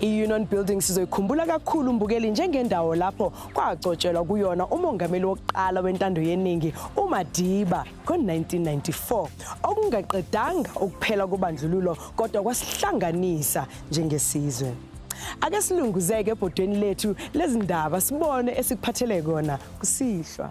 I-Union Building sizoyikhumbula kakhulu umbukeli njengendawo lapho kwacotshelwa kuyona umongameli wokuqala wentando yeningi uMadiba ngo-1994 okungaqedanga ukuphela kobandlululo kodwa kwasihlanganisa njengesizwe ake silunguzeke ebhodweni lethu lezindaba sibone esikuphathele kona kusihlwa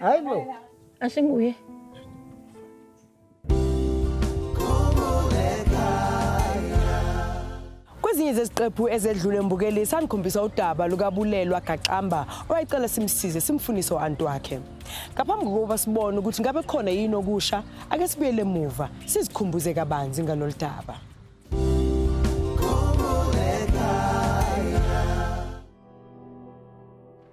Hayi bo. Asinguye. Kwezinye zeziqephu ezedlule mbukeli sanikhombisa udaba lukabulelwa gaqamba owayecela simsize simfunise u-anti wakhe ngaphambi kokuba sibone ukuthi ngabe khona yini okusha ake sibuyele emuva sizikhumbuze kabanzi ngalolu daba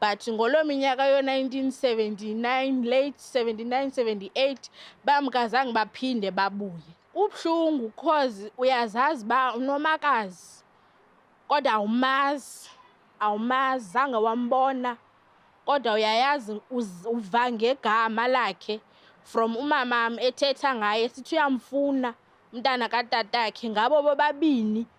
but ngolo minyaka yo-1979 late 79 78 bamkazange baphinde babuye kubuhlungu cause uyazazi uba unomakazi kodwa awumazi awumazi zange wambona kodwa uyayazi uva ngegama lakhe from umamam ethetha ngaye sithi uyamfuna umntana katatakhe ngabo bobabini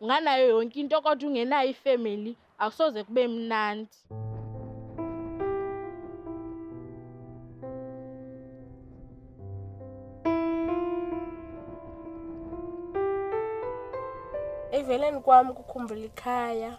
unganayo yonke into kodwa ungenayo ifamily akusoze kube mnandi eveleni kwami kukhumbula ikhaya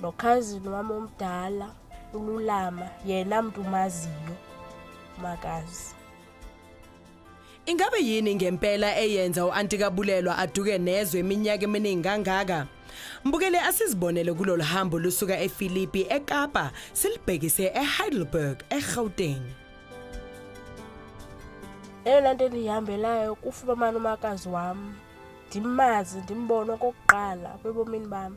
nokhazini wami omdala ululama yena mntu umaziyo makazi Ingabe yini ngempela eyenza uanti kabulelwa aduke nezwe iminyaka eminingi kangaka? Mbukele asizibonele kulolu hambo lusuka eFilipi eKapa silibhekise eHeidelberg eGauteng. Eyona nto endiyihambelayo kufumamana umakazi wami ndimazi ndimbone okokuqala kwebomini bami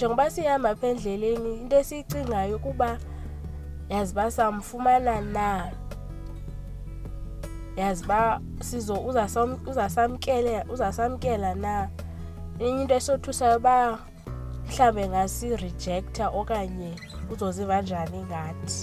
njengoba sihamba apha endleleni into esiyicingayo ukuba yazi uba samfumana na yazi uba sizo uzasamkela uzasamkela na enye into esothusayo uba mhlawumbe ngasi-rejecta okanye uzoziva njani ngathi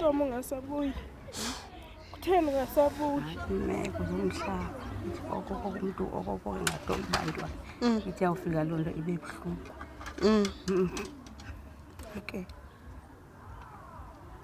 intomo ungasabuyi kutheni ungasabuyi imeko zomhlaba okoko umntu okoko ngato ibantwana mm. ithi yawufika loo nto ibe buhlungu mm. mm. okay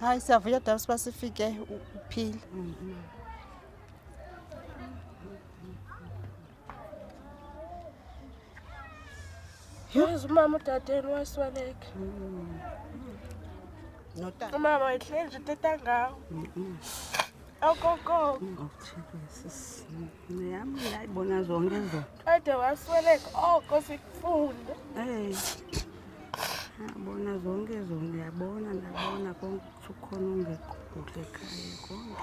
hayi siyavuya daba siba sifike uphile Yes, umama udadeni wasweleka. Notata. Umama wayehlezi uteta ngawo. Okokoko. Yami ngiyayibona zonke izo. Kade wasweleka oko oh, sikufunda. Eh. Yabona zonke izo ngiyabona ndabona konke ukuthi ukhona ungekho kuhle ekhaya konke.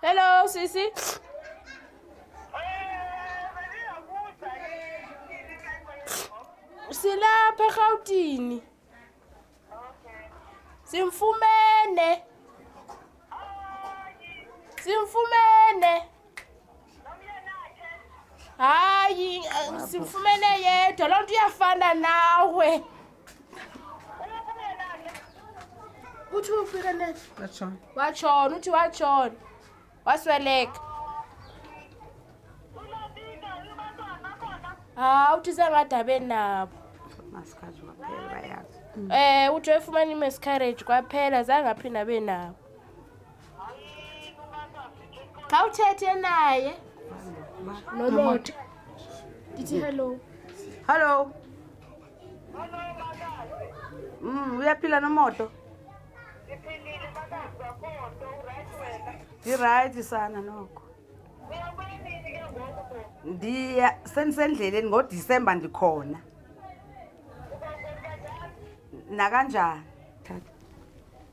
Hello sisi. Silapha eGautini. Simfumene. Simfumene. Hayi, simfumene yedwa. Lonto iyafana nawe. uthi ufike net washona washona uthi washona wasweleka ha uthi sengadabeni nabo masikhazi waphela bayazi eh uthi wefumana i-miscarriage kwaphela zange aphinda abe nabo khawuthethe naye nomota ndithi hello hello Mm, uyaphila nomoto? Ngiphilile makazi wakhona, uright wena? Ngi-right sana nokho. Uyabuya nini ke ngoku bo? Ndiya sendisendleleni ngoDisemba ndikhona. Uba kanjani? Nakanjani?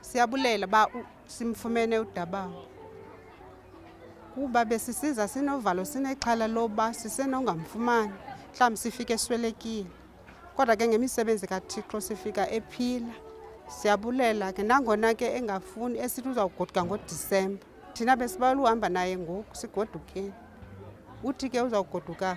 Siyabulela ba simfumene udabawo kuba besisiza sinovalo sinexhala loba sisenongamfumani mhlawumbi sifike eswelekile kodwa ke ngemisebenzi kathixo sifika ephila siyabulela ke nangona ke engafuni esithi uzawugoduka ngodisemba thina besibawela uhamba naye ngoku sigodukeni uthi ke uzawugoduka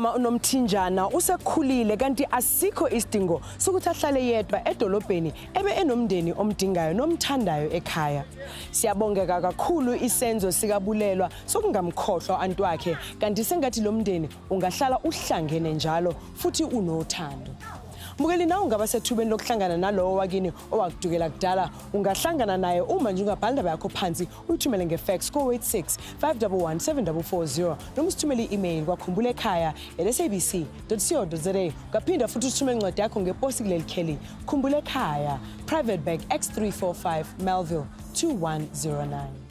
umama unomthinjana usekhulile kanti asikho isidingo sokuthi ahlale yedwa edolobheni ebe enomndeni omdingayo nomthandayo ekhaya siyabongeka kakhulu isenzo sikabulelwa sokungamkhohlwa anti wakhe kanti sengathi lo mndeni ungahlala uhlangene njalo futhi unothando mukeli nawe ungaba sethubeni lokuhlangana nalowo wakini owakudukela kudala ungahlangana naye uma nje ungabhala indaba yakho phansi uyithumele ngefax ko-86 511 7440 noma usithumele i-email kwakhumbula ekhaya lsabc co za ungaphinda futhi usithumele incwadi yakho ngeposi kuleli kheli khumbula ekhaya private bag x 345 melville 2109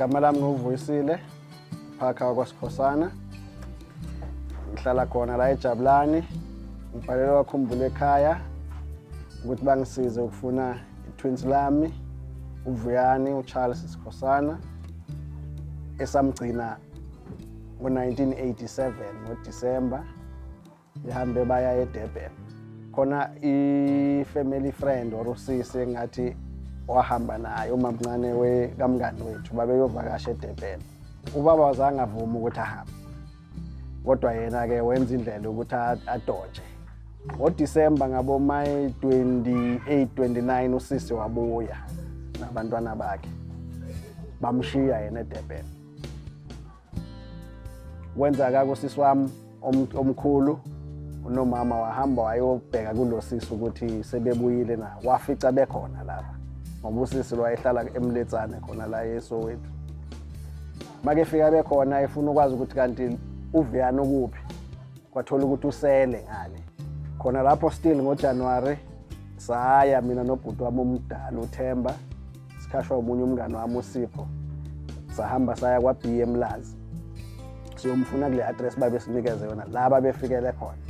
igama lami nguvuyisile phakha wakwasikhosana ngihlala khona la ejabulani ngibhalelwa wakhumbula ekhaya ukuthi bangisize ukufuna itwins lami uvuyani ucharles sikhosana esamgcina ngo-1987 ngodisemba ihambe baya edurban khona i-family friend or usisi engathi wahamba naye umamncane wekamngani wethu babeyovakasha edurban ubaba wazange avuma ukuthi ahambe kodwa yena-ke wenza indlela yokuthi adoje ngodisemba ngabomayi 28 29 usisi wabuya nabantwana bakhe bamshiya yena edurban wenza kako sisi wami omkhulu unomama wahamba wayobheka kulo sisi ukuthi sebebuyile na wafica bekhona lapha ngoba usisi lwayehlala emletsane khona la yesowethu makefika bekhona efuna ukwazi ukuthi kanti uviyana ukuphi kwathola ukuthi usele ngale khona lapho still ngojanuwari saya mina nobhuti wami omdala uthemba sikhashwa omunye umngane wami usipho sahamba saya kwa-b emlazi siyomfuna kule address babesinikeze yona la babefikele khona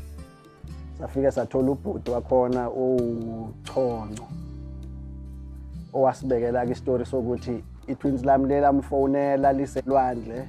safike sathola ubhuti wakhona owuchonco owasibekela-ke isitori sokuthi i-twins lami lelamfonela liselwandle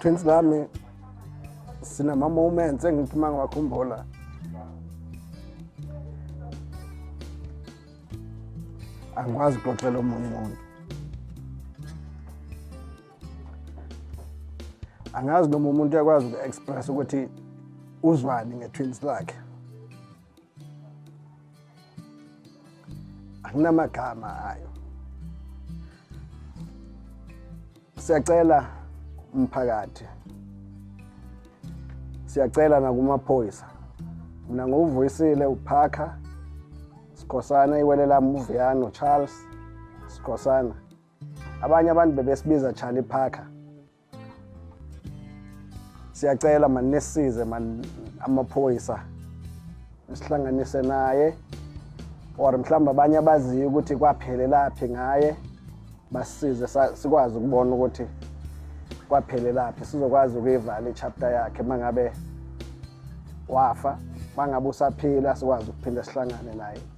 Prince lami sinama moments engithi uma ngiwakhumbula angikwazi ukuxoxela omunye umuntu angazi noma umuntu uyakwazi uku-express ukuthi uzwani nge-twins lakhe anginamagama ayo siyacela umphakathi siyacela nakumaphoyisa mina ngokuvuyisile uphakha sikhosana iwele lami uviyano charles sikhosana abanye abantu bebesibiza charlie parker siyacela mani nisize mani amaphoyisa sihlanganise naye or mhlawumbe abanye abaziyo ukuthi kwaphelelaphi ngaye basize sikwazi ukubona ukuthi kwaphelelaphi sizokwazi ukuyivala ichapter yakhe uma ngabe wafa uma ngabe usaphila sikwazi ukuphinde sihlangane naye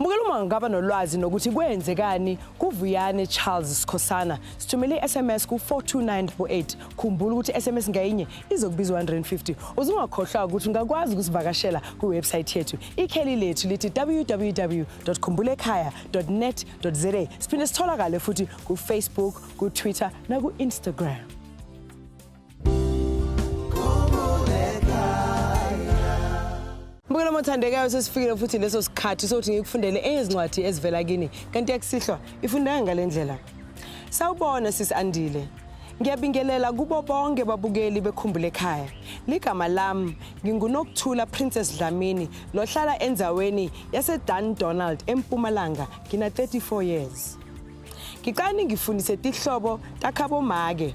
Mbukela uma ngaba nolwazi nokuthi kwenzekani kuVuyane Charles Sikhosana sithumele i-SMS ku-42988 khumbula ukuthi i-SMS ngayinye izokubiza 150 uzungakhohlwa ukuthi ungakwazi ukusivakashela kwiwebsayithi yethu ikheli lethu lithi www khumbulekhaya net za siphinde sitholakale futhi kufacebook kutwitter naku-instagram othandekayo sesifikile futhi leso sikhathi sokuthi ngikufundele ezincwadi ezivela kini kanti yakusihlwa ifundeka ngale ndlela sawubona sisi andile ngiyabingelela kubo bonke babukeli bekhumbule ekhaya ligama lami ngingunokuthula princess dlamini lohlala endzaweni yasedan donald empumalanga ngina-34 years ngicane ngifundise tihlobo takhabomake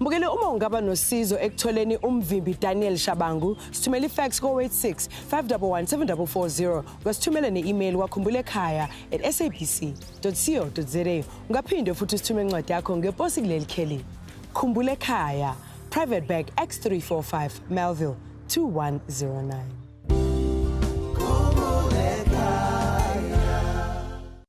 Mbukeli uma ungaba nosizo ekutholeni umvimbi Daniel Shabangu, sithumela ifax ko-86 511 7440 ngasithumela ne-email wakhumbula ekhaya at sabc.co.za. Ungaphinde futhi usithume incwadi yakho ngeposi kuleli kheli. Khumbula ekhaya, Private Bag X345 Melville 2109.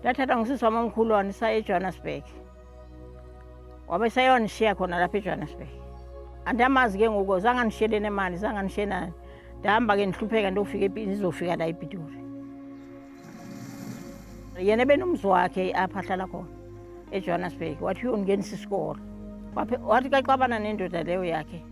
ndathathwa ngusisi wami omkhulu wani saya ejohannesburg wabe seyonishiya khona lapha ejohannesburg andiyamazi ke ngoku zanganishiye nemali zanganishiye nani ndihamba ke ndihlupheka ndiyofika ndizofika la epitori yena ebenomzi wakhe apha ahlala khona ejohannesburg wathi uyongenisa isikolo wathi kaxabana nendoda leyo yakhe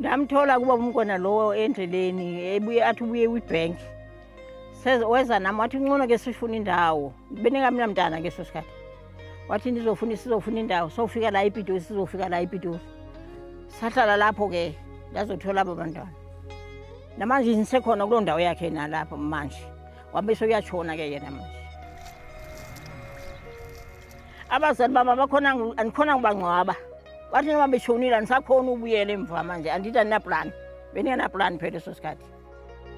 ndamthola kuba umkona lowo endleleni ebuye athi ubuye kwi-bank weza nami wathi uncono ke sifuna indawo benikamina mntana ke so sikhathi wathi ndizofuna sizofuna indawo sofika la ipitoli sizofika la ipitoli sahlala lapho ke ndazothola abo bantwana namanje ngisekhona kuloo ndawo yakhe nalapho manje wabe seyuyatshona ke yena manje abazali baba bakhona andikhona ngubangcwaba bathi noma beshonile andisakhona ubuyela emva manje andithi andinapulani bendingenapulani phela eso sikhathi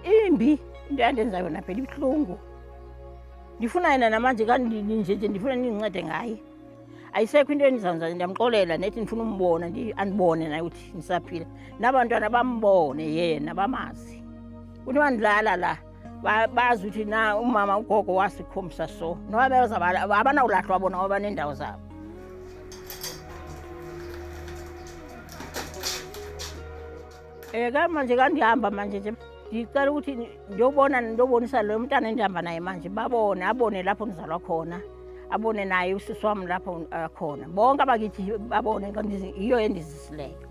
imbi into yandenza yona phela ibuhlungu ndifuna yena namanje kandinjeje ndifuna nindincede ngaye ayisekho into endizanza ndiyamxolela nethi ndifuna umbona andibone naye ukuthi ndisaphila nabantwana bambone yena bamazi kuthiwa ndilala la bazi ukuthi na umama ugogo wasikhombisa so noba bezabala abanawulahlwa bona ngoba banendawo zabo um ka manje kandihamba manje nje ndicela ukuthi ndiyobona ndiyobonisa lo mntana endihamba naye manje babone abone lapho ndizalwa khona abone naye usisi wam lapho akhona bonke abakithi babone yiyo endizisileyo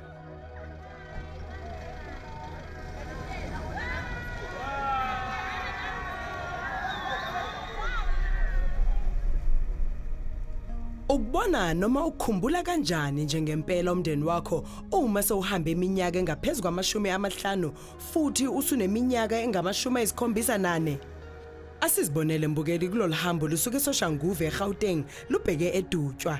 Ukubona noma ukukhumbula kanjani njengempela umndeni wakho uma sewuhamba iminyaka engaphezulu kwamashumi amahlanu futhi usuneminyaka engamashumi ayisikhombisa nane? Asizibonele mbukeli kulolu hambo lusuke eSoshanguve eGauteng lubheke eDutshwa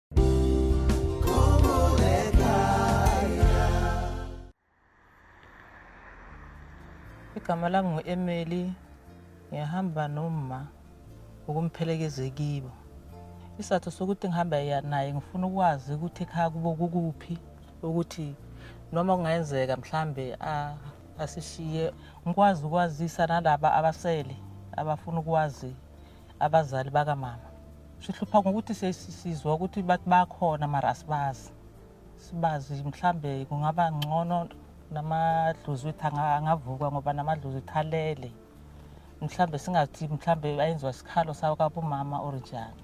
igama lami ngu-emeli ngiyahamba noma ukumphelekeze kibo isatho sokuthi ngihamba naye ngifuna ukwazi ukuthi ekhaya kubo kukuphi ukuthi noma kungayenzeka mhlambe asishiye ngikwazi ukwazisa nalaba abasele abafuna ukwazi abazali bakamama sihlupha ngokuthi sesizwa ukuthi bathi bakhona mara asibazi sibazi mhlambe kungaba ngcono namadlozi wethu angavuka ngoba namadlozi wethu alele mhlambe singathi mhlambe ayenziwa sikhalo sawo kabumama or njani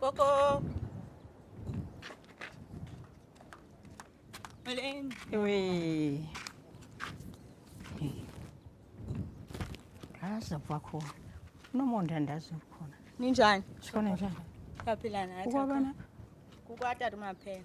Coco! Malin! Uy! Kaza kwakho. Nomonde andazi ukhona. Ninjani? Shona njani? Yaphila nathi. Ukwabana? Kukwatata umaphela.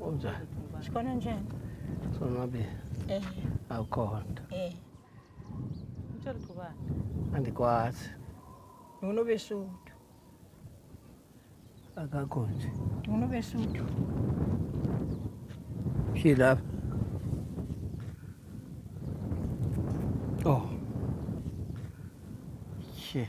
Unjani? Sikhona njani? Sonwabile. Eh. Awukhona. Eh. Utshela ukuthi ubani? Andikwazi. Nginobesuthu. Akakho nje. Nginobesuthu. Shi lapha. Oh. Shi.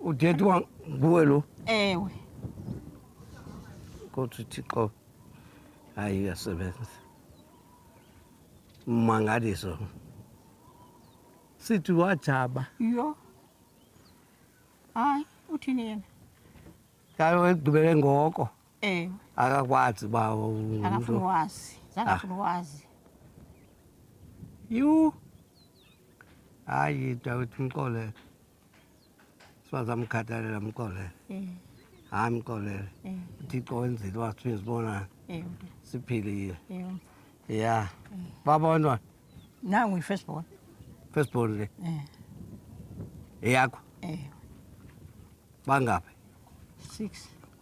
udeti wam nguwe lo ewe kodwa uthixo hayi uyasebenza mangaliso sithi wajaba yho hayi uthini yena yayo ekugqibele ngoko Eh. Akakwazi bawo. Akafuni wazi. Zakafuni ah. wazi. You. Hayi Dawid Mxolele. Sibaza mkhathalela Mxolele. Eh. Hayi Mxolele. Eh. Uthixo wenzile wasifika sibona. Eh. Siphilile. Eh. Yeah. Eh. Babonwa. Nangu i-first born. First born le. Eh. Eyakho. Eh. Bangaphi? 6.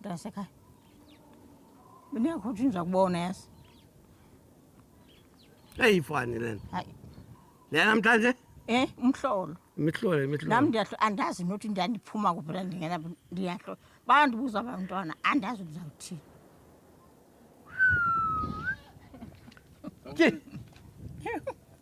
Ndasekhaya. Mina yakho nje kubona yazi. Hey ifani lena. Hayi. Lena namhlanje? Eh, umhlolo. Imihlolo, imihlolo. Nami ndiyahlo andazi nothi ndandiphuma kuphi la ndingena ndiyahlo. Bandibuza abantwana andazi ukuzawuthini. Ke.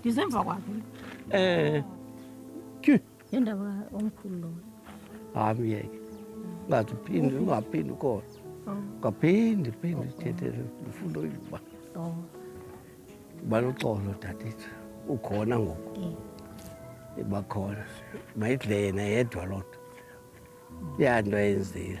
ndizemva kwakhe um eh, tyu yendaba omkhulu lowo hayi myeke ungathi uphinde ungaphinde ukhona oh. ngaphinde phinde thethele ndifuna uyiba oh. baloxolo dadethu ukhona ngoku eh. ibakhona mayidle yena yedwa loo nto ya nto ayenzile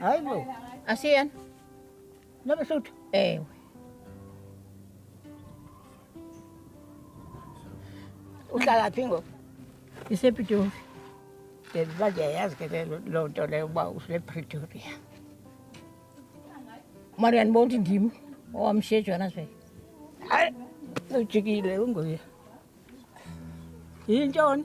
Hayi bo. Asiyena. Nobe suthu. Ewe. Uhlala phi ngoku? Isepitoli. Ngenza nje yazi ke loo nto leyo uba usepretoria mara uyandibona ukuthi ndim owamshiye ejohannesburg hayi ujikile unguye yintoni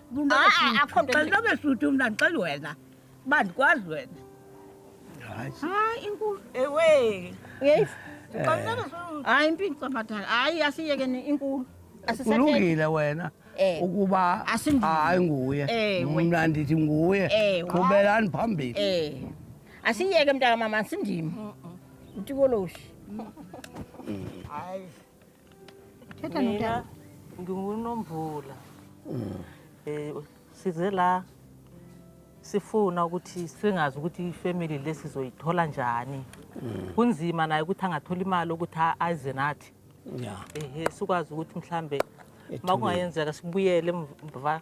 Xelobe shuthi mna ndixela wena uba ndikwazi wena hayi inkulu ewe yeyifu hayi impini cabadala hayi asiyekeni inkulu kulungile wena Eh. ukuba hayi nguye eh, mna ndithi nguye eh, qhubelani phambili asiyeke mntaka mama sindima utikoloshi Thetha mina notata. ngingunomvula um size la sifuna ukuthi singazi ukuthi ifamily le sizoyithola njani kunzima naye ukuthi angathola imali ukuthi a- aze nathi ya ehe sikwazi ukuthi mhlambe Ethulile. uma kungayenzeka sibuyele emva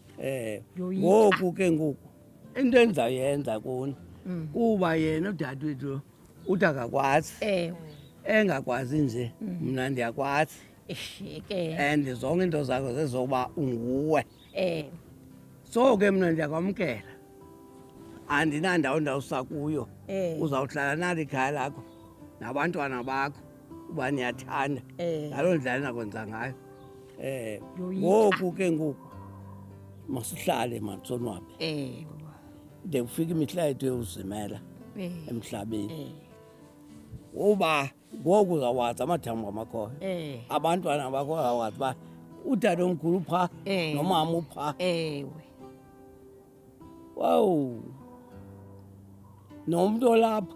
eh Yoyika. ngoku ke ngoku into endizayenza kuni Mm. kuba yena udadewethu uthi akakwazi ewe engakwazi nje Mm. mna ndiyakwazi ishike and zonke into zakho zezoba unguwe eh so ke mna ndiyakwamkela andinandawo ndawusa kuyo eh uzawuhlala nalo ikhaya lakho nabantwana bakho uba niyathanda eh. ngaloo ndlela ninakwenza ngayo um ngoku ke ngoku masihlale mansonwabe eh, de kufika imihla yethu yokuzimela eh. emhlabeni uba ngoku uzawazi amathambo amakhoyo abantwana bakhoyo awazi uba udade omkhulu upha nomama upha ewe wawu nomntu olapha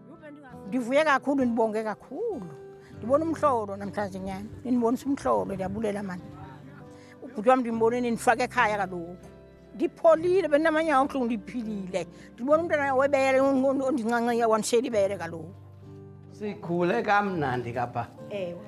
Ngivuye kakhulu nibonge kakhulu. Ngibona umhlolo namhlanje nyana. Nginibonisa umhlolo ndiyabulela manje. Ubhuti wami ndimboneni nifake ekhaya kaloku. Ngipholile benamanye awuhlungu ndiphilile. Ndibona umntana webele ondincanceya wanishela ibele kaloku. Sikhule kamnandi kapha. Ewe.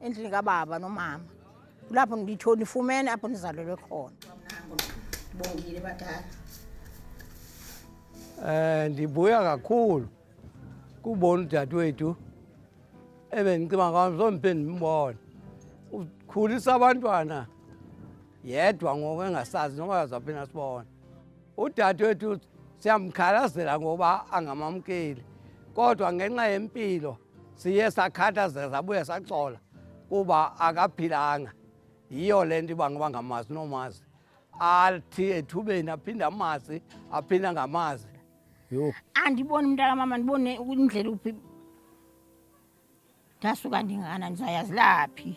endlini kababa nomama kulapho nditho nifumene apho ndizalelwe khona bongile badala eh ndibuya kakhulu kubona udadewethu ebendicima ngawo zombe ndimbona ukhulisa abantwana yedwa ngoku engasazi noma yazaphi nasibona udadewethu siyamkhalazela ngoba angamamkeli kodwa ngenxa yempilo siye sakhathazeka sabuye saxola kuba akaphilanga yiyo le nto iba ngoba ngamazi nomazi athi ethubeni aphinde amazi aphinde angamazi yho andiboni umntaka mama ndibone indlela uphi ndasuka ndingana ndizayazilaphi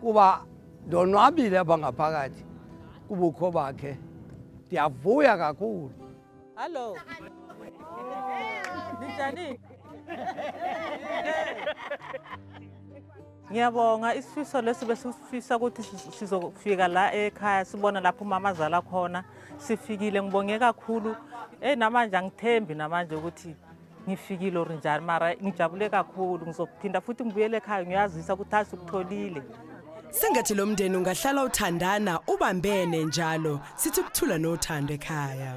kuba ndonwabile apha ngaphakathi kubukho bakhe ndiyavuya kakhulu hallo ninjani ngiyabonga isifiso lesi besifisa ukuthi sizofika la ekhaya sibona lapho umama azala khona sifikile ngibonge kakhulu eyi namanje angithembi namanje ukuthi ngifikile or njani mara ngijabule kakhulu ngizophinda futhi ngibuyele ekhaya ngiyazisa ukuthi azi ukutholile sengathi lo mndeni ungahlala uthandana ubambene njalo sithi ukuthula nothando ekhaya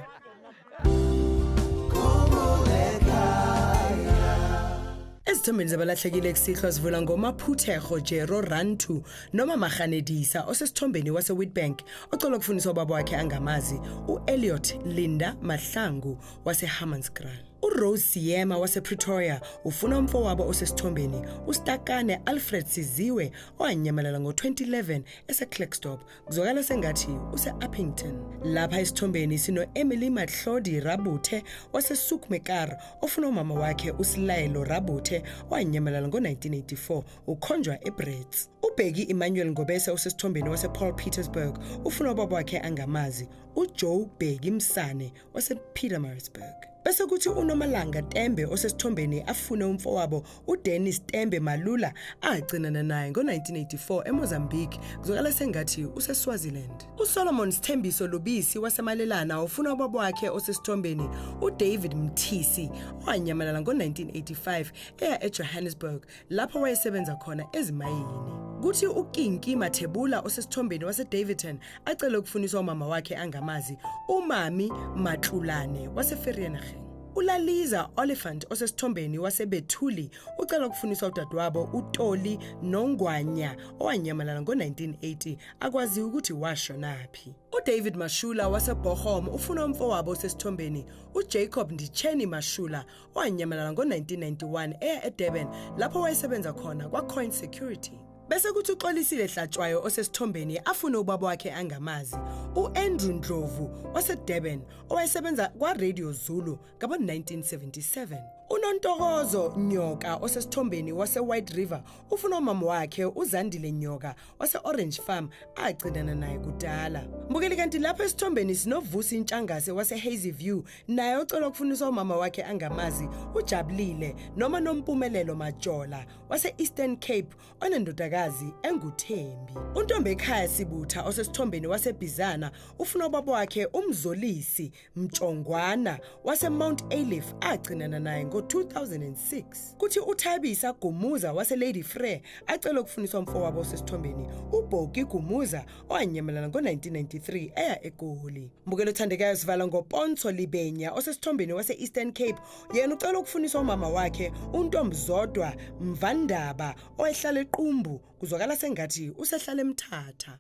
ezithombeni zabalahlekile ekusihlwa sivula ngomaphuthego jero rantu noma marhanedisa osesithombeni wasewitbank ocela ukufundisa ubaba wakhe angamazi u-eliot linda mahlangu waseHammanskraal. URose Siyema wasePretoria ufuna umfowabo osesithombeni uStakane Alfred Siziwe owanyamalala ngo-2011 eseClerkstop kuzwakala sengathi use-Uppington. Lapha esithombeni sino-Emily Matlodi Rabuthe waseSukmekar ofuna umama wakhe uSilayelo Rabuthe owanyamalala ngo-1984 ukhonjwa eBrits. Ubheki Emmanuel Ngobese osesithombeni wasePaul Petersburg ufuna ubaba wakhe angamazi uJoe Bheki Msane wasePietermaritzburg. Bese kuthi uNomalanga Tembe osesithombeni afune umfowabo uDennis Tembe Malula agcinana naye ngo-1984 eMozambique kuzwakala sengathi useSwaziland. USolomon Sithembiso Lubisi waseMalelana ufuna ubaba wakhe osesithombeni uDavid Mthisi owanyamalala ngo-1985 eya eJohannesburg lapho wayesebenza khona ezimayini. Kuthi uKinki Mathebula osesithombeni waseDavidton acele ukufuniswa umama wakhe angamazi, uMami Matlulane waseVereeniging. ULaliza Oliphant osesithombeni waseBethuli ucela ukufuniswa udadewabo uToli Nongwanya owanyamalala ngo-1980 akwaziwa ukuthi washonaphi. UDavid Mashula waseBochum ufuna umfowabo osesithombeni uJacob Ndicheni Mashula wanyamalala ngo-1991 eya edurban lapho wayesebenza khona kwacoin security bese kuthi uxolisile hlatshwayo osesithombeni afune ubaba wakhe angamazi u-andrew ndlovu wasedurban owayesebenza kwaradio zulu ngabo-1977 unontokozo nyoka osesithombeni wase-white river ufuna umama wakhe uzandile nyoka wase-orange farm agcinana naye kudala mbukeli kanti lapha esithombeni sinovusi intshangase wase-hazy view naye ocela ukufuniswa umama wakhe angamazi ujabulile noma nompumelelo majola wase-eastern cape onendodakazi enguthembi untombi ekhaya sibutha osesithombeni wasebhizana ufuna ubaba wakhe umzolisi Mtshongwana waseMount Ayliff agcinana naye ngo-2006. Kuthi uThabisa Gumuza waseLady Frere acela ukufuniswa mfowabo osesithombeni uBhoki Gumuza owanyamalala ngo-1993 eya eGoli. Mbukelo othandekayo sivala ngoPonso Libenya osesithombeni wase-Eastern Cape yena ucela ukufuniswa umama wakhe uNtombizodwa Mvandaba owayehlala eQumbu kuzwakala sengathi usehlale emthatha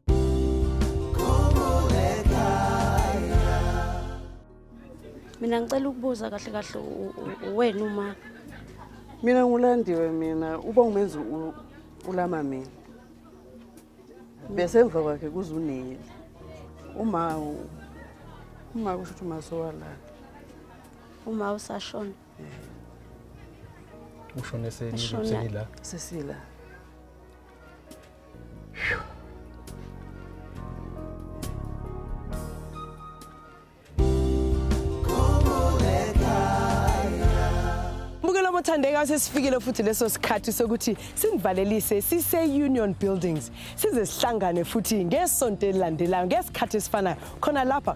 mina ngicela ukubuza kahle kahle wena uma mina ngulandiwe mina uba umenzi ulama mina bese emva kwakhe kuzuneli uma uma kusho ukuthi umasowalana uma usashona ushone senila sesila Sithandeka sesifikile futhi leso sikhathi sokuthi sinivalelise sise Union Buildings size sihlangane futhi ngesonto elilandelayo ngesikhathi esifanayo khona lapha